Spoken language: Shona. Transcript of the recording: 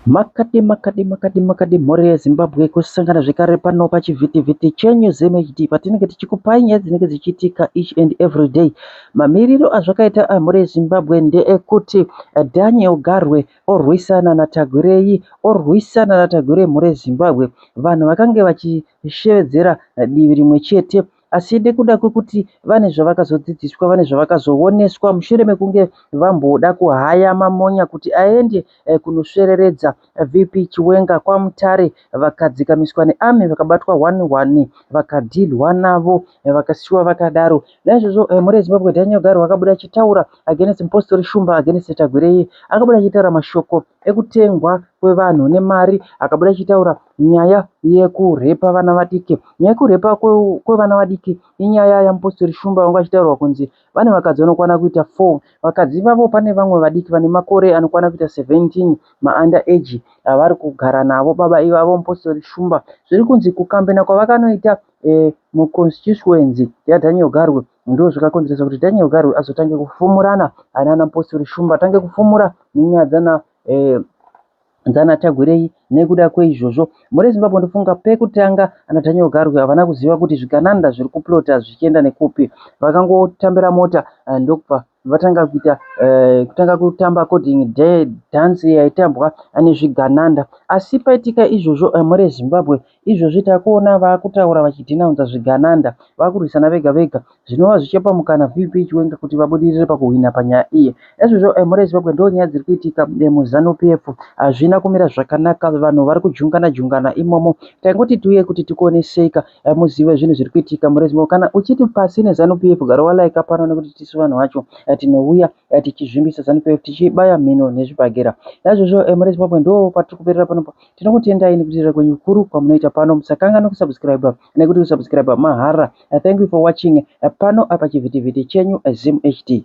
Makadi makadi makadi makadi mhuri yeZimbabwe kusangana zvekare pano pachivhitivhiti chenyu ZimHD patinenge tichikupai nyaya dzinenge dzichiitika each and every day. Mamiriro azvakaita amhuri yeZimbabwe ndeekuti Daniel Garwe orwisana naTagwirei orwisana naTagwirei mhuri yeZimbabwe vanhu vakange vachishevedzera divi rimwe chete asi nekuda kwekuti vane zvavakazodzidziswa vane zvavakazooneswa mushure mekunge vamboda kuhaya mamonya kuti aende eh, kunosvereredza eh, VP Chiwenga kwaMutare vakadzikamiswa nearmy vakabatwa one one vakadhilwa navo vakasiwa vakadaro naizvozvo eh, mhuri yezimbabwe daniel garo vakabuda achitaura against mpostori shumba against tagwirei akabuda achitaura mashoko ekutengwa kwevanhu nemari akabuda achitaura nyaya yekurepa vana vadiki nyaya yekurepa kwevana vadiki inyaya yamupostori shumba vanga vachitaurwa kunzi Vane vakadzi vanokwana kuita 4. Vakadzi ivavo pane vamwe vadiki vane makore anokwana kuita 17, maUnder age, avari kugara navo baba ivavo, Mupositori Shumba. Zviri kunzi kukambena kwavakanoita muConstituency yaDaniel Garwe ndizvo zvakakonzeresa kuti Daniel Garwe azotange kufumurana naana Mupositori Shumba, atange kufumura nenyaya dzana Hanzi ana Tagwirei nekuda kweizvozvo mhuri Zimbabwe ndofunga pekutanga ana Daniel Garwe havana kuziva kuti zvigananda zviri kuplota zvichienda nekupi vakangotambira mota ndokubva vatanga kuita kutanga kutamba according dance yaitambwa nezvigananda asi paitika izvozvo mhuri Zimbabwe Izvozvi takuona vakutaura vachidhinaunza zvigananda, vakurwisana vega vega zvinova zvichipa mukana VP Chiwenga kuti vabudirire pakuhwina panyaya iyi. Ezvozvo mhuri yeZimbabwe ndonyaya dziri kuitika muZanu PF hazvina kumira zvakanaka vanhu vari kujungana jungana imomo. Taingoti tiuye kuti tikuoneseka muzive zvinhu zviri kuitika mhuri yeZimbabwe kana uchiti pasi neZanu PF gara wa liker pano nekuti tisu vanhu vacho tinouya tichizvimbisa Zanu PF tichibaya mhino nezvibhakera. Naizvozvo mhuri yeZimbabwe ndoo patiri kuperera panopa. Tinokutendai nekuteerera kwenyu kukuru kwamunoita pano. Musakanganwe kusubscriber nekuti kusubscriber mahara. Thank you for watching pano apa chivhitivhiti chenyu Zim HD.